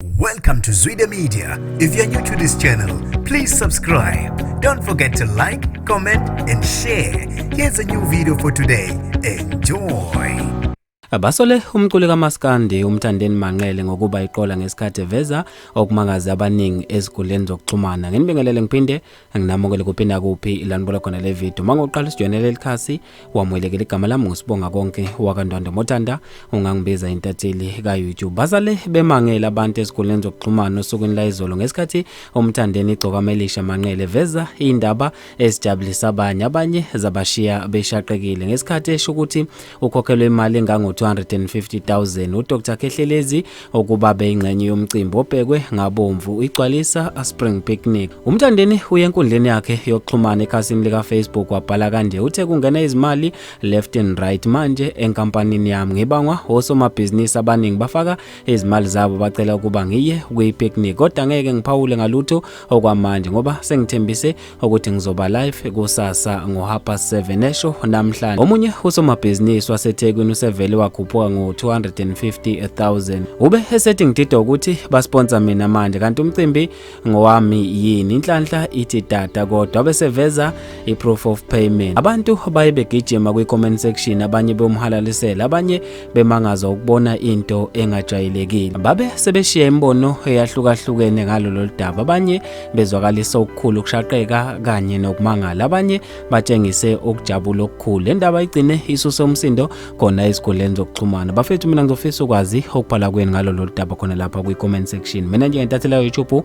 Welcome to Zwide Media. If you're new to this channel, please subscribe. Don't forget to like, comment and share. Here's a new video for today. Enjoy. Abasole umculi kaMaskandi uMthandeni Manqele ngokuba iqola ngesikhathi eveza okumangaze abaningi eziguleni zokuxhumana. Nginibingelele ngiphinde nginamukele kuphi nakuphi ilanibula khona le video. Mangoqala isijoyinele lelikhasi wamwelekela igama lami ngusibonga konke wakandwandwe motanda ungangibiza intatheli ka-youtube bazale bemangele abantu ezikoleni zokuxhumana osukwini layizolo ngesikhathi umthandeni igcokama elisha manqele veza iy'ndaba ezijabulisa abanye abanye zabashiya beshaqekile ngesikhathi esho ukuthi ukhokhelwe imali engango-250 000 udr kehlelezi ukuba beyingxenye yomcimbi obhekwe ngabomvu igcwalisa a Spring Picnic. Umthandeni uye enkundleni yakhe yokuxhumana ekhasini lika-Facebook wabhala kanje uthe kungena izimali left and right manje enkampanini yami ngibangwa osomabhizinisi abaningi bafaka izimali zabo bacela ukuba ngiye kwi-picnic kodwa ngeke ngiphawule ngalutho okwamanje ngoba sengithembise ukuthi ngizoba live kusasa ngohapa 7 esho namhlanje omunye usomabhizinisi wasethekwini usevele wakhuphuka ngo-250000 ube esethi ngidida ukuthi basponsa mina manje kanti umcimbi ngowami yini inhlanhla ithi data kodwa beseveza i-proof of payment abantu baye begijima kwi-comment section abanye bewumhalalisela abanye bemangaza ukubona into engajwayelekile babe sebeshiya imibono eyahlukahlukene ngalo lolu daba abanye bezwakalisa okukhulu ukushaqeka kanye nokumangala abanye batshengise ukujabula okukhulu le ndaba igcine isuse umsindo khona ezikhundleni zokuxhumana bafethu mina ngizofisa ukwazi okubhala kweni ngalo lolu daba khona lapha kwi-comment section mina njengentathelelo youtube